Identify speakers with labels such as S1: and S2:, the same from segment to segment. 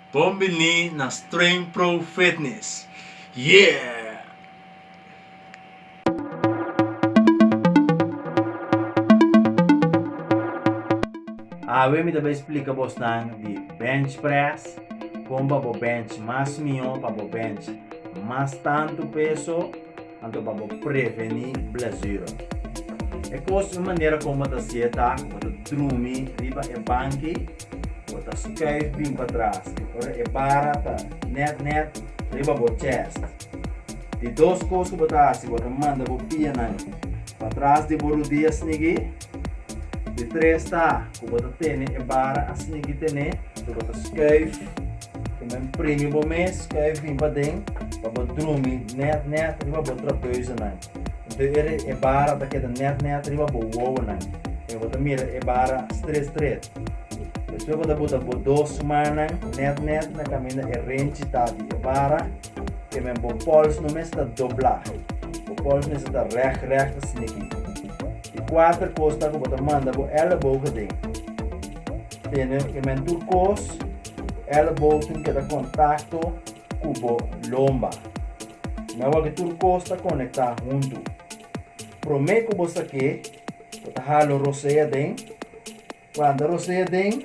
S1: Bon bini na Streng Pro Fitness! Yeah! Awe mi ta bai splica bos nan di bench press, con pa bo bench mas mihó, pa bo bench mas tantu peso. Anto pa bo preveni blesura. E kos un manera kon bo ta si'e ta, bo ta drumi riba e banki, bo ta skuif bin patras i ora e bara ta nèt nèt riba bo chèst. Di dos kos ku bo ta hasi, bo ta manda bo pianan patras di bo rudia snigí. Di tres ta ku bo ta tene e bara asina ki tene, lo bo ta skuif, kuma en primi bo mes, skuif bin paden pa bo drumi nèt nèt riba bo trapeuzonan. Enton e e bara ta keda nèt nèt riba bo wowonan, i bo ta mira e bara stret stret. Despues bo ta bota bo dos mannan nèt nèt na kaminda e renchi ta di e bara, te men bo pòls no mester ta dobla, bo pòls mester ta rèk rèk asina ki. E kuater kos ta ku bo ta manda bo èlebo aden. Tene e men tur kos, èlebo tin keda kontakto ku bo lomba. Mi a wak e tur kos ta konektá huntu. Promé ku bo sak'é, bo ta halo rosé aden, Planta rosea den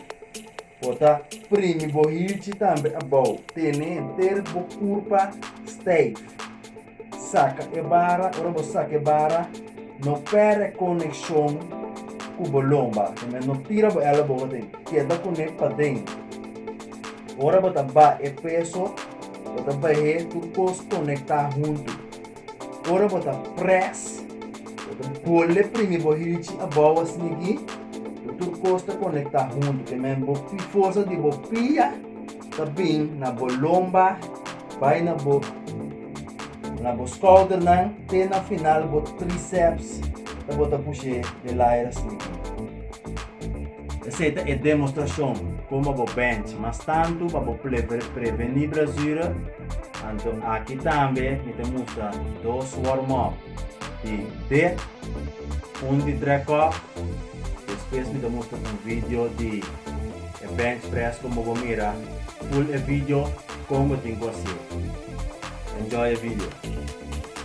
S1: bo ta primi bo hichi tambe abou. Tene enter bo kurpa steif. Saka e bara, ora bo saka e bara, no pèrdè e konekshon ku bo lomba. Tambe no tira bo elebow aden, keda kuné paden. Ora bo ta baha e peso, bo ta behé tur kos konektá huntu. Ora bo ta pres, bo ta bole primi bo hichi abou asina aki. Bo tur kos ta konektá huntu, te men bo forsa di bo pia ta bin na bo lomba, bai na bo na bo skoudernan te na final bo tríceps ta bo ta push'é de layer asina aki. Esei ta e demostrashon komo bo bènt mas tantu pa bo prevení brazura, anto aki tambe mi ta mustra dos wòrmòp di dip, un di trèkòf, despues mi ta mustra un video di e bènch près komo bo mira ful e video kon bo tin ku hasié. Enjoy e video.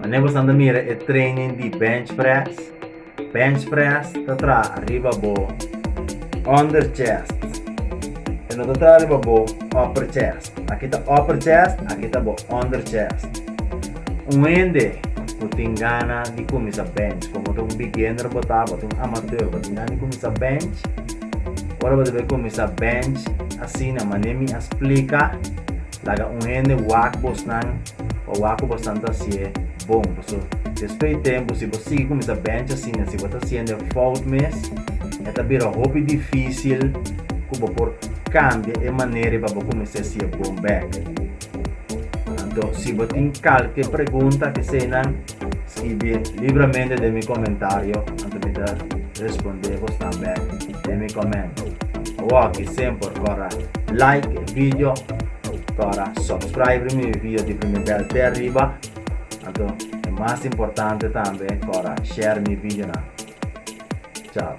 S1: Mane bo stanta mira e training di bench press? Bench press ta traha riba bo under chest. E no ta traha riba bo upper chest. Aki ta upper chest, aki ta bo under chest. Un hende ku tin gana di kuminsá bench, kon bo ta un beginner bo ta, bo ta un amateur, bo tin gana di kuminsá bench, ora bo ta bai kuminsá bench, asina mané mi a splika, laga un hende wak bosnan o wak ku bosnan ta hasié bon. Paso despues di tempu si bo sigui kuminsá bench asina, si bo ta hasiendo e fout mes, e ta bira hopi difísil ku bo por. Cambia e manera y pa bo cuminsa si e bon bek. Anto, si bo tin calke pregunta eseinan, scribi libremente den mi comentario, anto mi ta responde bo tambe den mi comment. Awoki sem por cora like e video, cora subscribe rimi e video di primi bel te ariba, anto e mas importante tambe cora share mi videonan. Chao.